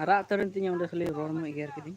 ᱟᱨᱟᱜ ᱩᱛᱟᱹᱨᱮᱱ ᱛᱤᱧᱟᱹ ᱚᱸᱰᱮ ᱠᱷᱟᱹᱞᱤ ᱨᱚᱲ ᱢᱮ ᱮᱜᱮᱨ ᱠᱤᱫᱤᱧ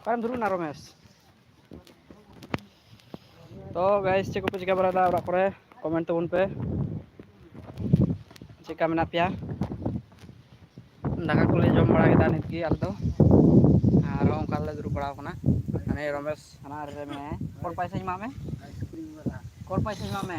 ᱚᱠᱟᱨᱮᱢ ᱫᱩᱲᱩᱵ ᱮᱱᱟ ᱨᱚᱢᱮᱥ ᱛᱚ ᱜᱟᱭᱤᱥ ᱪᱮᱫ ᱠᱚᱯᱮ ᱪᱤᱠᱟᱹ ᱵᱟᱲᱟᱭᱮᱫᱟ ᱚᱲᱟᱜ ᱠᱚᱨᱮ ᱠᱚᱢᱮᱱᱴ ᱛᱟᱵᱚᱱ ᱯᱮ ᱪᱮᱫᱠᱟ ᱢᱮᱱᱟᱜ ᱯᱮᱭᱟ ᱫᱟᱠᱟ ᱠᱚᱞᱮ ᱡᱚᱢ ᱵᱟᱲᱟ ᱠᱮᱫᱟ ᱱᱤᱛ ᱜᱮ ᱟᱞᱮ ᱫᱚ ᱟᱨᱦᱚᱸ ᱚᱱᱠᱟ ᱞᱮ ᱫᱩᱲᱩᱵ ᱵᱟᱲᱟᱣ ᱟᱠᱟᱱᱟ ᱦᱟᱱᱮ ᱨᱚᱢᱮᱥ ᱦᱟᱱᱟ ᱨᱮ ᱢᱮᱱᱟᱭᱟ ᱠᱚᱞ ᱯᱟᱭᱥᱟᱧ ᱮᱢᱟᱜ ᱢᱮ ᱠᱚᱞ ᱯᱟᱭᱥᱟᱧ ᱮᱢᱟᱜ ᱢᱮ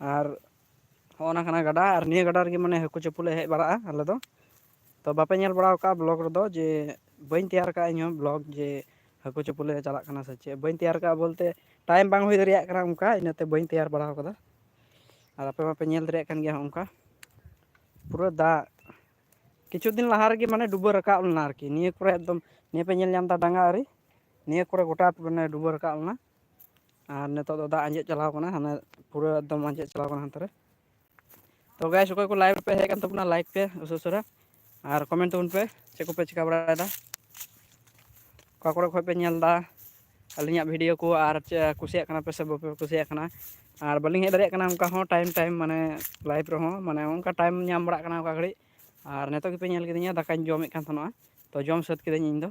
ᱟᱨ ᱦᱚᱸᱜᱼᱚ ᱱᱟ ᱠᱟᱱᱟ ᱜᱟᱰᱟ ᱟᱨ ᱱᱤᱭᱟᱹ ᱜᱟᱰᱟ ᱨᱮᱜᱮ ᱢᱟᱱᱮ ᱦᱟᱹᱠᱩ ᱪᱟᱯᱚ ᱞᱮ ᱦᱮᱡ ᱵᱟᱲᱟᱜᱼᱟ ᱟᱞᱮ ᱫᱚ ᱛᱚ ᱵᱟᱯᱮ ᱧᱮᱞ ᱵᱟᱲᱟᱣ ᱠᱟᱜᱼᱟ ᱵᱞᱚᱠ ᱨᱮᱫᱚ ᱡᱮ ᱵᱟᱹᱧ ᱛᱮᱭᱟᱨ ᱠᱟᱜᱼᱟ ᱤᱧᱦᱚᱸ ᱵᱞᱚᱠ ᱡᱮ ᱦᱟᱹᱠᱩ ᱪᱟᱯᱚ ᱞᱮ ᱪᱟᱞᱟᱜ ᱠᱟᱱᱟ ᱥᱮ ᱪᱮᱫ ᱵᱟᱹᱧ ᱛᱮᱭᱟᱨ ᱠᱟᱜᱼᱟ ᱵᱚᱞᱛᱮ ᱴᱟᱭᱤᱢ ᱵᱟᱝ ᱦᱩᱭ ᱫᱟᱲᱮᱭᱟᱜ ᱠᱟᱱᱟ ᱚᱱᱠᱟ ᱤᱱᱟᱹᱛᱮ ᱵᱟᱹᱧ ᱛᱮᱭᱟᱨ ᱵᱟᱲᱟᱣ ᱠᱟᱫᱟ ᱟᱨ ᱟᱯᱮ ᱢᱟᱯᱮ ᱧᱮᱞ ᱫᱟᱲᱮᱭᱟᱜ ᱠᱟᱱ ᱜᱮᱭᱟ ᱦᱚᱸᱜᱼᱚᱝᱠᱟ ᱯᱩᱨᱟᱹ ᱫᱟᱜ ᱠᱤᱪᱷᱩ ᱫᱤᱱ ᱞᱟᱦᱟ ᱨᱮᱜᱮ ᱢᱟᱱᱮ ᱰᱩᱵᱟᱹ ᱨᱟᱠᱟᱵ ᱞᱮᱱᱟ ᱟᱨᱠᱤ ᱱᱤᱭᱟᱹ ᱠᱚᱨᱮ ᱮᱠᱫᱚᱢ ᱱᱤᱭᱟᱹ ᱯᱮ ᱧᱮᱞ ᱧᱟᱢᱫᱟ ᱰᱟᱸᱜᱟ ᱟᱨᱤ ᱱᱤᱭᱟᱹ ᱠᱚᱨᱮ ᱜᱚᱴᱟ ᱢᱟᱱᱮ ᱰᱩᱵᱟᱹ ᱨᱟᱠᱟᱵ ᱞᱮᱱᱟ ᱟᱨ ᱱᱤᱛᱚᱜ ᱫᱚ ᱫᱟᱜ ᱟᱸᱡᱮᱫ ᱪᱟᱞᱟᱣ ᱟᱠᱟᱱᱟ ᱦᱟᱱᱮ ᱯᱩᱨᱟᱹ ᱮᱠᱫᱚᱢ ᱟᱸᱡᱮᱫ ᱪᱟᱞᱟᱣ ᱟᱠᱟᱱᱟ ᱦᱟᱱᱛᱮ ᱨᱮ ᱛᱚ ᱜᱟᱭᱥ ᱚᱠᱚᱭ ᱠᱚ ᱞᱟᱭᱤᱵᱷ ᱯᱮ ᱦᱮᱡ ᱟᱠᱟᱱ ᱛᱟᱵᱚᱱᱟ ᱞᱟᱭᱤᱠ ᱯᱮ ᱩᱥᱟᱹ ᱩᱥᱟᱹᱨᱟ ᱟᱨ ᱠᱚᱢᱮᱱᱴ ᱛᱟᱵᱚᱱ ᱯᱮ ᱪᱮᱫ ᱠᱚᱯᱮ ᱪᱤᱠᱟᱹ ᱵᱟᱲᱟᱭᱮᱫᱟ ᱚᱠᱟ ᱠᱚᱨᱮ ᱠᱷᱚᱡ ᱯᱮ ᱧᱮᱞ ᱮᱫᱟ ᱟᱹᱞᱤᱧᱟᱜ ᱵᱷᱤᱰᱭᱳ ᱠᱚ ᱟᱨ ᱪᱮᱫ ᱠᱩᱥᱤᱭᱟᱜ ᱠᱟᱱᱟ ᱯᱮ ᱥᱮ ᱵᱟᱯᱮ ᱠᱩᱥᱤᱭᱟᱜ ᱠᱟᱱᱟ ᱟᱨ ᱵᱟᱹᱞᱤᱧ ᱦᱮᱡ ᱫᱟᱲᱮᱭᱟᱜ ᱠᱟᱱᱟ ᱚᱱᱠᱟ ᱦᱚᱸ ᱴᱟᱭᱤᱢ ᱴᱟᱭᱤᱢ ᱢᱟᱱᱮ ᱞᱟᱭᱤᱵᱷ ᱨᱮᱦᱚᱸ ᱢᱟᱱᱮ ᱚᱱᱠᱟ ᱴᱟᱭᱤᱢ ᱧᱟᱢ ᱵᱟᱲᱟᱜ ᱠᱟᱱᱟ ᱚᱠᱟ ᱜᱷᱟᱹᱲᱤᱡ ᱟᱨ ᱱᱤᱛᱚᱜ ᱜᱮᱯᱮ ᱧᱮᱞ ᱠᱤᱫᱤᱧᱟ ᱫᱟᱠᱟᱧ ᱡᱚᱢᱮᱫ ᱠᱟᱱ ᱛᱟᱦᱮᱱᱚᱜᱼᱟ ᱛᱚ ᱡᱚᱢ ᱥᱟᱹᱛ ᱠᱤᱫᱟᱹᱧ ᱤᱧᱫᱚ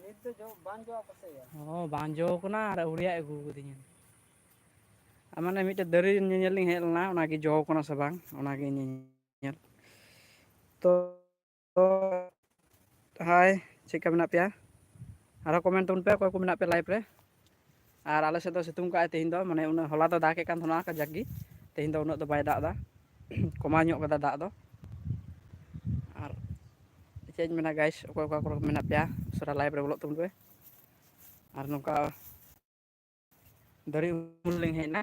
ᱱᱤᱛ ᱫᱚ ᱡᱚ ᱵᱟᱝ ᱡᱚ ᱟᱠᱟᱱ ᱥᱮ ᱭᱟ ᱚ ᱵᱟᱝ ᱡᱚ ᱠᱟᱱᱟ ᱟᱨ ᱟᱹᱣᱨᱤᱭᱟᱜ ᱟᱹᱜᱩ ᱠᱟᱹᱫᱤᱧᱟ ᱟᱨ ᱢᱟᱱᱮ ᱢᱤᱫᱴᱮᱡ ᱫᱟᱨᱮ ᱧᱮᱧᱮᱞ ᱞᱤᱧ ᱦᱮᱡ ᱞᱮᱱᱟ ᱚᱱᱟ ᱜᱮ ᱡᱚ ᱠᱟᱱᱟ ᱥᱮ ᱵᱟᱝ ᱚᱱᱟ ᱜᱮ ᱧᱮ ᱧᱮᱞ ᱛᱚ ᱛᱚ ᱦᱟᱭ ᱪᱮᱫ ᱠᱟ ᱢᱮᱱᱟᱜ ᱯᱮᱭᱟ ᱟᱨᱚ ᱠᱚᱢᱮᱱᱴ ᱛᱟᱵᱚᱱ ᱯᱮ ᱚᱠᱚᱭ ᱠᱚ ᱢᱮᱱᱟᱜ ᱯᱮᱭᱟ ᱞᱟᱭᱤᱵᱷ ᱨᱮ ᱟᱨ ᱟᱞᱮ ᱥᱮᱫ ᱫᱚ ᱥᱤᱛᱩᱝ ᱠᱟᱜᱼᱟᱭ ᱛᱮᱦᱮᱧ ᱫᱚ ᱢᱟᱱᱮ ᱩᱱᱟᱹᱜ ᱦᱚᱞᱟ ᱫᱚ ᱫᱟᱜ ᱮᱫ ᱠᱟᱱ ᱛᱟᱦᱮᱱᱟ ᱠᱟᱡᱟᱠ ᱜᱮ ᱛᱮᱦᱮᱧ ᱫᱚ ᱩᱱᱟᱹᱜ ᱫᱚ ᱵᱟᱭ ᱫᱟᱜ ᱮᱫᱟ ᱠᱚᱢᱟᱣ ᱧᱚᱜ ᱠᱟᱫᱟ ᱫᱟᱜ ᱫᱚ ᱟᱨ ᱪᱮᱫ ᱤᱧ ᱢᱮᱱᱟ ᱜᱟᱭᱤᱥ ᱚᱠᱚᱭ ᱚᱠᱟ ᱠᱚᱨᱮ ᱢᱮᱱᱟᱜ ᱯᱮᱭᱟ ᱩᱥᱟᱹᱨᱟ ᱞᱟᱭᱤᱵᱷ ᱨᱮ ᱵᱚᱞᱚᱜ ᱛᱟᱵᱚᱱ ᱯᱮ ᱟᱨ ᱱᱚᱝᱠᱟ ᱫᱟᱨᱮ ᱩᱢᱩᱞ ᱨᱮᱞᱤᱧ ᱦᱮᱡ ᱮᱱᱟ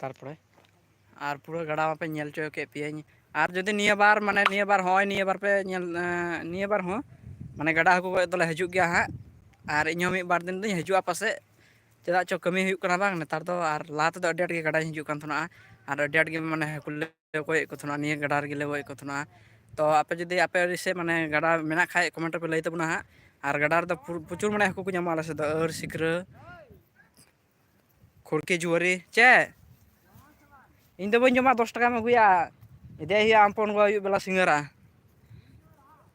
ᱛᱟᱨᱯᱚᱨᱮ ᱟᱨ ᱯᱩᱨᱟᱹ ᱜᱟᱰᱟ ᱢᱟᱯᱮ ᱧᱮᱞ ᱦᱚᱪᱚ ᱠᱮᱫ ᱯᱮᱭᱟᱹᱧ ᱟᱨ ᱡᱩᱫᱤ ᱱᱤᱭᱟᱹ ᱵᱟᱨ ᱢᱟᱱᱮ ᱱᱤᱭᱟᱹ ᱵᱟᱨ ᱦᱚᱸᱜᱼᱚᱭ ᱱᱤᱭᱟᱹ ᱵᱟᱨ ᱯᱮ ᱧᱮᱞ ᱱᱤᱭᱟᱹ ᱵᱟᱨ ᱦᱚᱸ ᱢᱟᱱᱮ ᱜᱟᱰᱟ ᱦᱟᱹᱠᱩ ᱜᱚᱡ ᱫᱚᱞᱮ ᱦᱤᱡᱩᱜ ᱜᱮᱭᱟ ᱦᱟᱸᱜ ᱟᱨ ᱤᱧᱦᱚᱸ ᱢᱤᱫ ᱵᱟᱨ ᱫᱤᱱ ᱫᱚᱧ ᱦᱤᱡᱩᱜᱼᱟ ᱯᱟᱥᱮᱡ ᱪᱮᱫᱟᱜ ᱪᱚ ᱠᱟᱹᱢᱤ ᱦᱩᱭᱩᱜ ᱠᱟᱱᱟ ᱵᱟᱝ ᱱᱮᱛᱟᱨ ᱫᱚ ᱟᱨ ᱞᱟᱦᱟ ᱛᱮᱫᱚ ᱟᱹᱰᱤ ᱟᱸᱴ ᱜᱮ ᱜᱟᱰᱟᱧ ᱦᱤᱡᱩᱜ ᱠᱟᱱ ᱛᱟᱦᱮᱱᱚᱜᱼᱟ ᱟᱨ ᱟᱹᱰᱤ ᱟᱸᱴ ᱜᱮ ᱢᱟᱱᱮ ᱦᱟᱹᱠᱩ ᱞᱮ ᱜᱚᱡᱮᱫ ᱠᱚ ᱛᱟᱦᱮᱱᱟ ᱱᱤᱭᱟᱹ ᱜᱟᱰᱟ ᱨᱮᱜᱮ ᱜᱚᱡᱮᱫ ᱠᱚ ᱛᱟᱦᱮᱱᱟ ᱛᱚ ᱟᱯᱮ ᱡᱩᱫᱤ ᱟᱯᱮ ᱟᱲᱮ ᱥᱮᱫ ᱢᱟᱱᱮ ᱜᱟᱰᱟ ᱢᱮᱱᱟᱜ ᱠᱷᱟᱡ ᱠᱚᱢᱮᱱᱴ ᱨᱮᱯᱮ ᱞᱟᱹᱭ ᱛᱟᱵᱚᱱᱟ ᱦᱟᱸᱜ ᱟᱨ ᱜᱟᱰᱟ ᱨᱮᱫᱚ ᱯᱨᱚᱪᱩᱨ ᱢᱟᱱᱮ ᱦᱟᱹᱠᱩ ᱠᱚ ᱧᱟᱢᱚᱜᱼᱟ ᱟᱞᱮ ᱥᱮᱫ ᱫᱚ ᱟᱹᱬ ᱥᱤᱠᱨᱟᱹ ᱠᱷᱩᱲᱠᱤ ᱡᱩᱣᱟᱹᱨᱤ ᱪᱮᱫ ᱤᱧ ᱫᱚ ᱵᱟᱹᱧ ᱡᱚᱢᱟ ᱫᱚᱥ ᱴᱟᱠᱟᱢ ᱟᱹᱜᱩᱭᱟ ᱤᱫᱤᱭᱮ ᱦᱩᱭᱩᱜᱼᱟ ᱟᱢ ᱯᱚᱱ ᱜᱚ ᱟᱹᱭᱩᱵ ᱵᱮᱞᱟ ᱥᱤᱸᱜᱟᱹᱲᱟ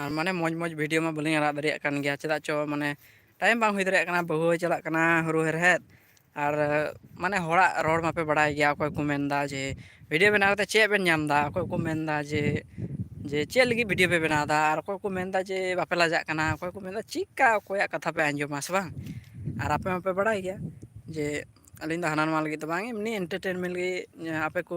ᱟᱨ ᱢᱟᱱᱮ ᱢᱚᱡᱽ ᱢᱚᱡᱽ ᱵᱷᱤᱰᱭᱳ ᱢᱟ ᱵᱟᱹᱞᱤᱧ ᱟᱲᱟᱜ ᱫᱟᱲᱮᱭᱟᱜ ᱠᱟᱱ ᱜᱮᱭᱟ ᱪᱮᱫᱟᱜ ᱪᱚ ᱢᱟᱱᱮ ᱴᱟᱭᱤᱢ ᱵᱟᱝ ᱦᱩᱭ ᱫᱟᱲᱮᱭᱟᱜ ᱠᱟᱱᱟ ᱵᱟᱹᱦᱩ ᱦᱚᱭ ᱪᱟᱞᱟᱜ ᱠᱟᱱᱟ ᱦᱩᱲᱩ ᱦᱮᱲᱦᱮᱫ ᱟᱨ ᱢᱟᱱᱮ ᱦᱚᱲᱟᱜ ᱨᱚᱲ ᱢᱟᱯᱮ ᱵᱟᱲᱟᱭ ᱜᱮᱭᱟ ᱚᱠᱚᱭ ᱠᱚ ᱢᱮᱱᱫᱟ ᱡᱮ ᱵᱷᱤᱰᱭᱳ ᱵᱮᱱᱟᱣ ᱠᱟᱛᱮᱫ ᱪᱮᱫ ᱵᱮᱱ ᱧᱟᱢᱫᱟ ᱚᱠᱚᱭ ᱠᱚ ᱢᱮᱱᱫᱟ ᱡᱮ ᱡᱮ ᱪᱮᱫ ᱞᱟᱹᱜᱤᱫ ᱵᱷᱤᱰᱭᱳ ᱯᱮ ᱵᱮᱱᱟᱣ ᱮᱫᱟ ᱟᱨ ᱚᱠᱚᱭ ᱠᱚ ᱢᱮᱱᱫᱟ ᱡᱮ ᱵᱟᱯᱮ ᱞᱟᱡᱟᱜ ᱠᱟᱱᱟ ᱚᱠᱚᱭ ᱠᱚ ᱢᱮᱱᱫᱟ ᱪᱮᱫᱠᱟ ᱚᱠᱚᱭᱟᱜ ᱠᱟᱛᱷᱟ ᱯᱮ ᱟᱸᱡᱚᱢᱟ ᱥᱮ ᱵᱟᱝ ᱟᱨ ᱟᱯᱮ ᱢᱟᱯᱮ ᱵᱟᱲᱟᱭ ᱜᱮᱭᱟ ᱡᱮ ᱟᱹᱞᱤᱧ ᱫᱚ ᱦᱟᱱᱟ ᱱᱚᱣᱟ ᱞᱟᱹᱜᱤᱫ ᱫᱚ ᱵᱟᱝ ᱮᱢᱱᱤ ᱮᱱᱴᱟᱨᱴᱮᱱᱢᱮᱱᱴ ᱞᱟᱹᱜᱤᱫ ᱟᱯᱮ ᱠᱚ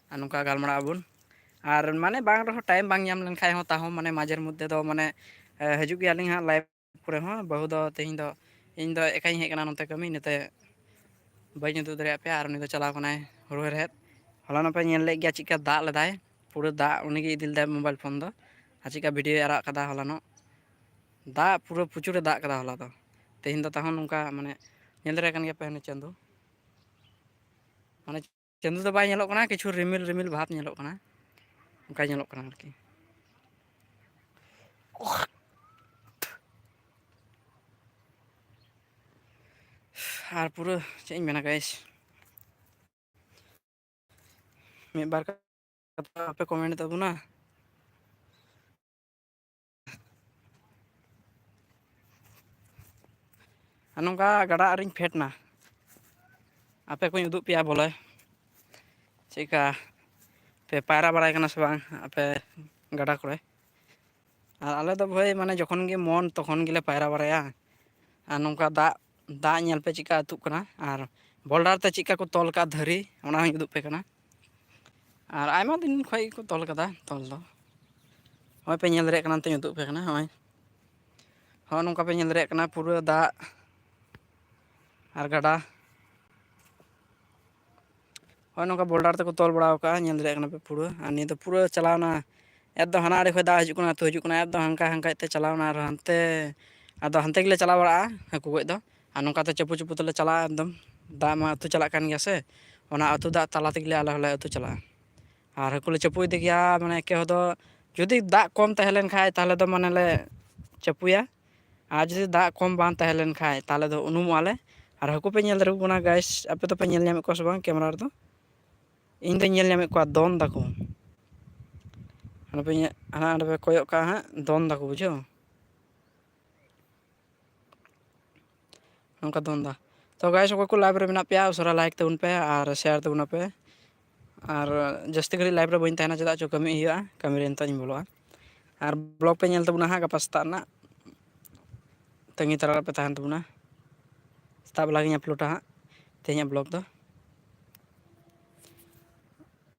ᱟᱨ ᱱᱚᱝᱠᱟ ᱜᱟᱞᱢᱟᱨᱟᱜ ᱟᱵᱚᱱ ᱟᱨ ᱢᱟᱱᱮ ᱵᱟᱝ ᱨᱮᱦᱚᱸ ᱴᱟᱭᱤᱢ ᱵᱟᱝ ᱧᱟᱢ ᱞᱮᱱᱠᱷᱟᱡ ᱦᱚᱸ ᱛᱟᱦᱚᱸ ᱢᱟᱱᱮ ᱢᱟᱡᱷᱮᱨ ᱢᱚᱫᱽᱫᱷᱮ ᱫᱚ ᱢᱟᱱᱮ ᱦᱤᱡᱩᱜ ᱜᱮᱭᱟᱞᱤᱧ ᱦᱟᱸᱜ ᱞᱟᱭᱤᱵᱷ ᱠᱚᱨᱮ ᱦᱚᱸ ᱵᱟᱹᱦᱩ ᱫᱚ ᱛᱮᱦᱮᱧ ᱫᱚ ᱤᱧ ᱫᱚ ᱮᱠᱟᱭ ᱤᱧ ᱦᱮᱡ ᱟᱠᱟᱱᱟ ᱱᱚᱛᱮ ᱠᱟᱹᱢᱤ ᱤᱱᱟᱹᱛᱮ ᱵᱟᱹᱧ ᱩᱫᱩᱜ ᱫᱟᱲᱮᱭᱟᱜ ᱯᱮᱭᱟ ᱟᱨ ᱩᱱᱤ ᱫᱚ ᱪᱟᱞᱟᱣ ᱠᱟᱱᱟᱭ ᱦᱩᱲᱩ ᱦᱮᱲᱦᱮᱫ ᱦᱚᱞᱟ ᱱᱚᱜ ᱯᱮ ᱧᱮᱞ ᱞᱮᱫ ᱜᱮᱭᱟ ᱪᱮᱫᱠᱟ ᱫᱟᱜ ᱞᱮᱫᱟᱭ ᱯᱩᱨᱟᱹ ᱫᱟᱜ ᱩᱱᱤᱜᱮ ᱤᱫᱤ ᱞᱮᱫᱟᱭ ᱢᱳᱵᱟᱭᱤᱞ ᱯᱷᱳᱱ ᱫᱚ ᱟᱨ ᱪᱮᱫᱠᱟ ᱵᱷᱤᱰᱭᱳᱭ ᱟᱨᱟᱜ ᱠᱟᱫᱟ ᱦᱚᱞᱟᱱᱚᱜ ᱫᱟᱜ ᱯᱩᱨᱟᱹ ᱯᱨᱚᱪᱩᱨᱮ ᱫᱟᱜ ᱠᱟᱫᱟ ᱦᱚᱞᱟ ᱫᱚ ᱛᱮᱦᱮᱧ ᱫᱚ ᱛᱟᱦᱚᱸ ᱱᱚᱝᱠᱟ ᱢᱟᱱᱮ ᱧᱮᱞ ᱫᱟᱲᱮ ᱠᱟᱱ ᱜᱮᱭᱟ ᱯᱮ ᱦᱟᱱᱮ ᱪᱟᱸᱫᱚ ᱢᱟᱱᱮ ᱪᱟᱸᱫᱚ ᱫᱚ ᱵᱟᱭ ᱧᱮᱞᱚᱜ ᱠᱟᱱᱟ ᱠᱤᱪᱷᱩ ᱨᱤᱢᱤᱞ ᱨᱤᱢᱤᱞ ᱵᱷᱟᱵᱽ ᱧᱮᱞᱚᱜ ᱠᱟᱱᱟ ᱚᱱᱠᱟ ᱧᱮᱞᱚᱜ ᱠᱟᱱᱟ ᱟᱨᱠᱤ ᱟᱨ ᱯᱩᱨᱟᱹ ᱪᱮᱫ ᱤᱧ ᱢᱮᱱᱟ ᱜᱟᱭᱮᱥ ᱢᱤᱫ ᱵᱟᱨ ᱠᱟᱛᱷᱟ ᱵᱟᱯᱮ ᱠᱚᱢᱮᱱᱴ ᱛᱟᱵᱚᱱᱟ ᱟᱨ ᱱᱚᱝᱠᱟ ᱜᱟᱰᱟ ᱟᱨᱮ ᱨᱮᱧ ᱯᱷᱮᱰ ᱮᱱᱟ ᱟᱯᱮ ᱠᱚᱧ ᱩᱫᱩᱜ ᱯᱮᱭᱟ ᱵᱚᱞᱮ ᱪᱮᱫᱠᱟ ᱯᱮ ᱯᱟᱭᱨᱟ ᱵᱟᱲᱟᱭ ᱠᱟᱱᱟ ᱥᱮ ᱵᱟᱝ ᱟᱯᱮ ᱜᱟᱰᱟ ᱠᱚᱨᱮ ᱟᱨ ᱟᱞᱮ ᱫᱚ ᱵᱷᱟᱹᱭ ᱢᱟᱱᱮ ᱡᱚᱠᱷᱚᱱ ᱜᱮ ᱢᱚᱱ ᱛᱚᱠᱷᱚᱱ ᱜᱮᱞᱮ ᱯᱟᱭᱨᱟ ᱵᱟᱲᱟᱭᱟ ᱟᱨ ᱱᱚᱝᱠᱟ ᱫᱟᱜ ᱫᱟᱜ ᱧᱮᱞ ᱯᱮ ᱪᱮᱫᱠᱟ ᱟᱹᱛᱩᱜ ᱠᱟᱱᱟ ᱟᱨ ᱵᱚᱞᱰᱟᱨ ᱛᱮ ᱪᱮᱫᱠᱟ ᱠᱚ ᱛᱚᱞ ᱠᱟᱜᱼᱟ ᱫᱷᱟᱹᱨᱤ ᱚᱱᱟ ᱦᱚᱸᱧ ᱩᱫᱩᱜ ᱯᱮ ᱠᱟᱱᱟ ᱟᱨ ᱟᱭᱢᱟ ᱫᱤᱱ ᱠᱷᱚᱡ ᱜᱮᱠᱚ ᱛᱚᱞ ᱠᱟᱫᱟ ᱛᱚᱞ ᱫᱚ ᱦᱚᱸᱜᱼᱚᱭ ᱯᱮ ᱧᱮᱞ ᱫᱟᱲᱮᱭᱟᱜ ᱠᱟᱱᱟ ᱱᱤᱛᱚᱜ ᱤᱧ ᱩᱫᱩᱜ ᱯᱮ ᱠᱟᱱᱟ ᱦᱚᱸᱜᱼᱚᱭ ᱦᱚᱸᱜᱼᱚ ᱱᱚᱝᱠᱟ ᱯᱮ ᱧᱮᱞ ᱫᱟᱲᱮᱭᱟᱜ ᱠᱟᱱᱟ ᱯᱩᱨᱟᱹ ᱫᱟᱜ ᱟᱨ ᱜᱟᱰᱟ ᱦᱚᱭ ᱱᱚᱝᱠᱟ ᱵᱷᱚᱞᱰᱟᱨ ᱛᱮᱠᱚ ᱛᱚᱞ ᱵᱟᱲᱟᱣ ᱠᱟᱜᱼᱟ ᱧᱮᱞ ᱫᱟᱲᱮᱭᱟᱜ ᱠᱟᱱᱟ ᱯᱮ ᱯᱩᱨᱟᱹ ᱟᱨ ᱱᱤᱭᱟᱹ ᱫᱚ ᱯᱩᱨᱟᱹ ᱪᱟᱞᱟᱣᱱᱟ ᱮᱛᱚ ᱦᱟᱱᱟ ᱟᱲᱮ ᱠᱷᱚᱡ ᱫᱟᱜ ᱦᱤᱡᱩᱜ ᱠᱟᱱᱟ ᱟᱹᱛᱩ ᱦᱤᱡᱩᱜ ᱠᱟᱱᱟ ᱮᱛᱚ ᱦᱟᱱᱠᱟ ᱦᱟᱱᱠᱟ ᱛᱮ ᱪᱟᱞᱟᱣᱱᱟ ᱟᱨ ᱦᱟᱱᱛᱮ ᱟᱫᱚ ᱦᱟᱱᱛᱮ ᱜᱮᱞᱮ ᱪᱟᱞᱟᱣ ᱵᱟᱲᱟᱜᱼᱟ ᱦᱟᱹᱠᱩ ᱜᱚᱡ ᱫᱚ ᱟᱨ ᱱᱚᱝᱠᱟ ᱛᱮ ᱪᱟᱯᱩ ᱪᱩᱯᱩ ᱛᱮᱞᱮ ᱪᱟᱞᱟᱜᱼᱟ ᱮᱠᱫᱚᱢ ᱫᱟᱜ ᱢᱟ ᱟᱹᱛᱩ ᱪᱟᱞᱟᱜ ᱠᱟᱱ ᱜᱮᱭᱟ ᱥᱮ ᱚᱱᱟ ᱟᱹᱛᱩ ᱫᱟᱜ ᱛᱟᱞᱟ ᱛᱮᱜᱮ ᱟᱞᱮ ᱦᱚᱸᱞᱮ ᱟᱹᱛᱩ ᱪᱟᱞᱟᱜᱼᱟ ᱟᱨ ᱦᱟᱹᱠᱩ ᱞᱮ ᱪᱟᱯᱚ ᱤᱫᱤ ᱜᱮᱭᱟ ᱢᱟᱱᱮ ᱮᱠᱮ ᱦᱚᱲ ᱫᱚ ᱡᱩᱫᱤ ᱫᱟᱜ ᱠᱚᱢ ᱛᱟᱦᱮᱸ ᱞᱮᱱᱠᱷᱟᱡ ᱛᱟᱦᱚᱞᱮ ᱫᱚ ᱢᱟᱱᱮᱞᱮ ᱪᱟᱯᱚᱭᱟ ᱟᱨ ᱡᱩᱫᱤ ᱫᱟᱜ ᱠᱚᱢ ᱵᱟᱝ ᱛᱟᱦᱮᱸ ᱞᱮᱱ ᱠᱷᱟᱡ ᱛᱟᱦᱚᱞᱮ ᱫᱚ ᱩᱱᱩᱢᱚᱜᱼᱟ ᱞᱮ ᱟᱨ ᱦᱟᱹᱠᱩ ᱯᱮ ᱧᱮᱞ ᱫᱟᱲᱮ ᱟᱠᱚ ᱠᱟᱱᱟ ᱜᱟᱭᱤᱥ ᱟᱯᱮ ᱫᱚᱯᱮ ᱧᱮᱞ ᱧᱟᱢᱮᱫ ᱠᱚᱣᱟ ᱥᱮ ᱵᱟᱝ ᱠᱮᱢᱮᱨᱟ ᱨᱮᱫᱚ ᱤᱧ ᱫᱚᱧ ᱧᱮᱞ ᱧᱟᱢᱮᱫ ᱠᱚᱣᱟ ᱫᱚᱱ ᱫᱟᱠᱚ ᱦᱟᱱᱮ ᱦᱟᱸᱰᱮ ᱯᱮ ᱠᱚᱭᱚᱜ ᱠᱟᱜᱼᱟ ᱦᱟᱸᱜ ᱫᱚᱱ ᱫᱟᱠᱚ ᱵᱩᱡᱷᱟᱹᱣ ᱱᱚᱝᱠᱟ ᱫᱚᱱ ᱮᱫᱟ ᱛᱚ ᱜᱟᱭᱥ ᱚᱠᱚᱭ ᱠᱚ ᱞᱟᱭᱤᱵᱷ ᱨᱮ ᱢᱮᱱᱟᱜ ᱯᱮᱭᱟ ᱩᱥᱟᱹᱨᱟ ᱞᱟᱭᱤᱠ ᱛᱟᱵᱚᱱ ᱯᱮ ᱟᱨ ᱥᱮᱭᱟᱨ ᱛᱟᱵᱚᱱ ᱯᱮ ᱟᱨ ᱡᱟᱹᱥᱛᱤ ᱜᱷᱟᱹᱲᱤᱡ ᱞᱟᱭᱤᱵᱷ ᱨᱮ ᱵᱟᱹᱧ ᱛᱟᱦᱮᱱᱟ ᱪᱮᱫᱟᱜ ᱪᱚ ᱠᱟᱹᱢᱤ ᱦᱩᱭᱩᱜᱼᱟ ᱠᱟᱹᱢᱤ ᱨᱮ ᱱᱤᱛᱚᱜ ᱤᱧ ᱵᱚᱞᱚᱜᱼᱟ ᱟᱨ ᱵᱞᱚᱜ ᱯᱮ ᱧᱮᱞ ᱛᱟᱵᱚᱱᱟ ᱦᱟᱸᱜ ᱜᱟᱯᱟ ᱥᱮᱛᱟᱜ ᱨᱮᱱᱟᱜ ᱛᱟᱺᱜᱤ ᱛᱟᱨᱟ ᱨᱮᱯᱮ ᱛᱟᱦᱮᱱ ᱛᱟᱵᱚᱱᱟ ᱥᱮᱛᱟᱜ ᱵᱮᱞᱟ ᱜᱤᱧ ᱟᱯᱞᱳᱰᱟ ᱦᱟᱸᱜ ᱛᱮᱦᱮᱧᱟᱜ ᱵᱞᱚᱜ ᱫᱚ